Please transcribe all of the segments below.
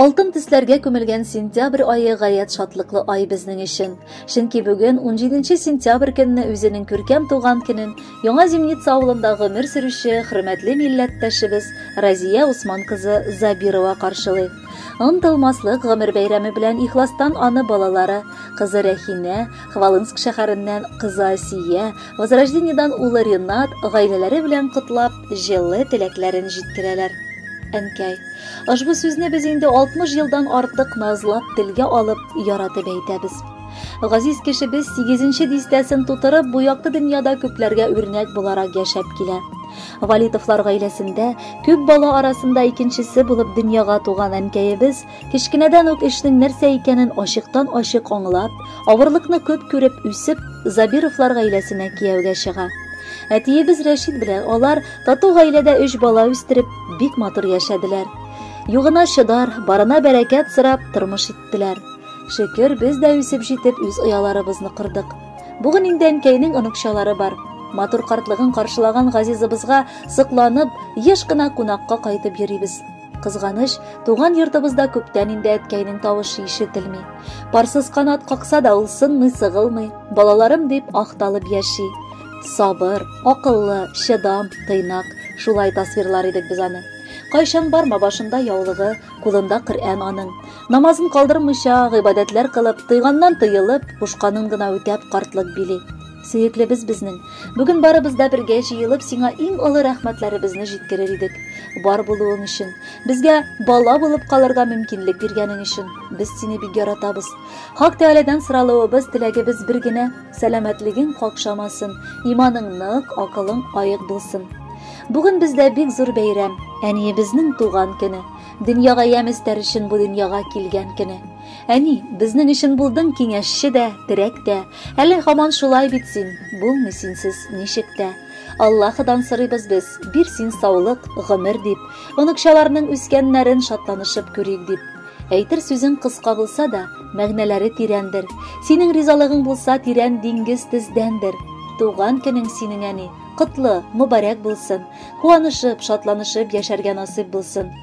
Алтын төсләргә күмелгән сентябрь айы гаять шатлыклы ай безнең өчен. Чөнки бүген 17 сентябрь көнне үзенең күркәм туган көнен Яңа Земница авылында гомер сөрүче хөрмәтле милләттәшебез Разия Усман кызы Забирова каршылый. Онтылмаслык гомер бәйрәме белән ихластан аны балалары, кызы Рәхинә, Хвалынск шәһәреннән кызы Асия, Возрождениедән улы Ренат гаиләләре белән котлап, җылы теләкләрен җиткерәләр. Әнкәй, ошбу сүзне без инде 60 елдан артык назлап телгә алып, яратып әйтәбез. Газиз кешебез 8 дистәсен тутырып, бу якты дөньяда күпләргә үрнәк буларак яшәп килә. Валитовлар гаиләсендә күп бала арасында икенчесе булып дөньяга туган әнкәебез Кечкенәдән үк эшнең нәрсә икәнен ачыктан-ачык аңлап, авырлыкны күп күреп үсеп, Забировлар гаиләсенә кияүгә чыга. Әтиебез Рәшид белән алар тату гаиләдә өч бала үстереп, бик матур яшәделәр. Югына чыдар, барына бәрәкәт сорап тормыш иттеләр. Шөкер, без дә үсеп җитеп үз ояларыбызны кордык. Бүген инде әнкәйнең оныкчалары бар. Матур картлыгын каршылаган Газизыбызга сокланып, еш кына кунакка кайтып йөрибез. Кызганыч, туган йортыбызда күптән инде әткәйнең тавышы ишетелми. Парсыз канат какса да ул сынмый, сыгылмый, балаларым дип ахталып яши. Сабыр, акыллы, чыдам, тыйнак, шулай тасвирлар идек без аны. Кайчан барма башында яулыгы, кулында Коръән аның. Намазын калдырмыйча, гыйбадәтләр кылып, тыйганнан тыелып, кушканын гына үтәп картлык били. Сөеклебез безнең. Бүген барыбыз да бергә җыелып сиңа иң олы рәхмәтләребезне җиткерер идек. Бар булуың өчен, безгә бала булып калырга мөмкинлек биргәнең өчен без сине бик яратабыз. Хак Тәгаләдән соралуыбыз, теләгебез бер генә, сәламәтлегең какшамасын, иманың нык, акылың аек булсын. Бүген бездә бик зур бәйрәм, әниебезнең туган көне, дөньяга ямь өстәр өчен бу дөньяга килгән көне. Әни, безнең өчен булдың киңәшче дә, терәк тә. Әле һаман шулай бит син, булмый синсез ничек тә. Аллаһыдан сорыйбыз без, бир син саулык, гомер дип. Оныкчаларның үскәннәрен шатланышып күрик дип. Әйтер сүзең кыска булса да, мәгънәләре тирәндер. Синең ризалыгың булса тирән диңгез тездәндер. Туган көнең синең әни, котлы, мөбарәк булсын. Куанышып, шатланышып яшәргә насыйп булсын.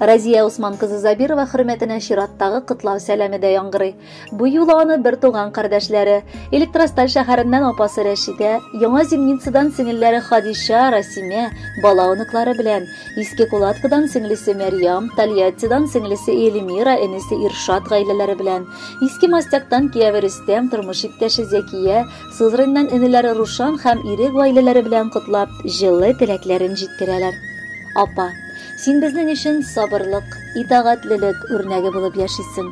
Разия Усман кызы Забирова хөрмәтенә чираттагы котлау сәламе дә яңгырый. Бу юлы аны бер туган кардәшләре, Электросталь шәһәреннән апасы Рәшидә, Яңа Земницадан сеңелләре Хадиша, Расимә, бала оныклары белән, Иске Кулаткадан сеңлесе Мәрьям, Тольяттидан сеңлесе Эльмира, энесе Иршат гаиләләре белән, Иске Мостяктан кияве Рөстәм, тормыш иптәше Зәкия, Сызрыннан энеләре Рушан һәм ире гаиләләре белән котлап, җылы теләкләрен җиткерәләр. Апа, син безнең өчен сабырлык, итагатьлелек үрнәге булып яшисең.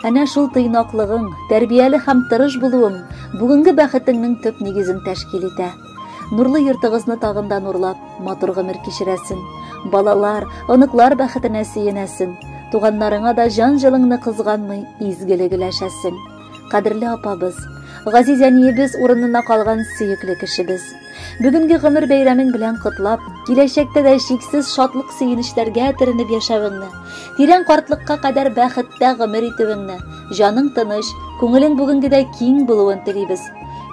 Әнә шул тыйнаклыгың, тәрбияле һәм тырыш булуың бүгенге бәхетеңнең төп нигезен тәшкил итә. Нурлы йортыгызны тагын да нурлап, матур гомер кичерәсең. Балалар, оныклар бәхетенә сөенәсең. Туганнарыңа да җан-җылыңны кызганмый, изгелек өләшәсең. кадерле апабыз, газиз әниебез урынына калган сөекле кешебез. Бүгенге гомер бәйрәмең белән котлап, киләчәктә дә шиксез шатлык сөенечләргә төренеп яшәвеңне, тирән картлыкка кадәр бәхеттә гомер итүеңне, җаның тыныч, күңелең бүгенгедәй киң булуын телибез.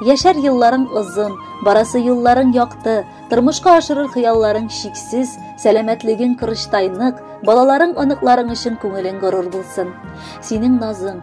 Яшәр елларың озын, барасы юлларың якты, тормышка ашырыр хыялларың шиксез, сәламәтлегең кырычтай нык, балаларың, оныкларың өчен күңелең горур булсын. Синең назың,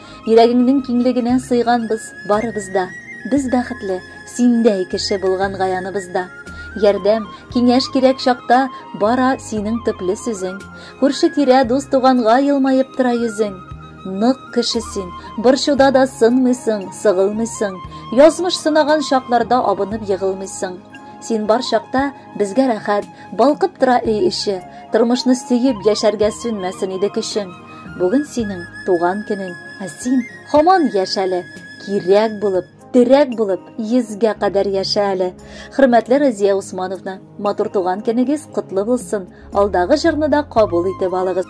Йөрәгеңнең киңлегенә сыйганбыз барыбыз да. Без бәхетле, синдәй кеше булган гаяныбызда. Ярдәм, киңәш кирәк чакта бара синең төпле сүзең. Күрше-тирә, дус-туганга елмаеп тора йөзең. Нык кеше син, борчуда да сынмыйсың, сыгылмыйсың. Язмыш сынаган чакларда абынып егылмыйсың. Син бар чакта безгә рәхәт, балкып тора өй эче. Тормышны сөеп яшәргә сүнмәсен иде көчең. Бүген синең туган көнең, ә син һаман яшь әле. Кирәк булып, терәк булып, йөзгә кадәр яшә әле. Хөрмәтле Разия Усмановна, матур туган көнегез котлы булсын. Алдагы җырны да кабул итеп алыгыз.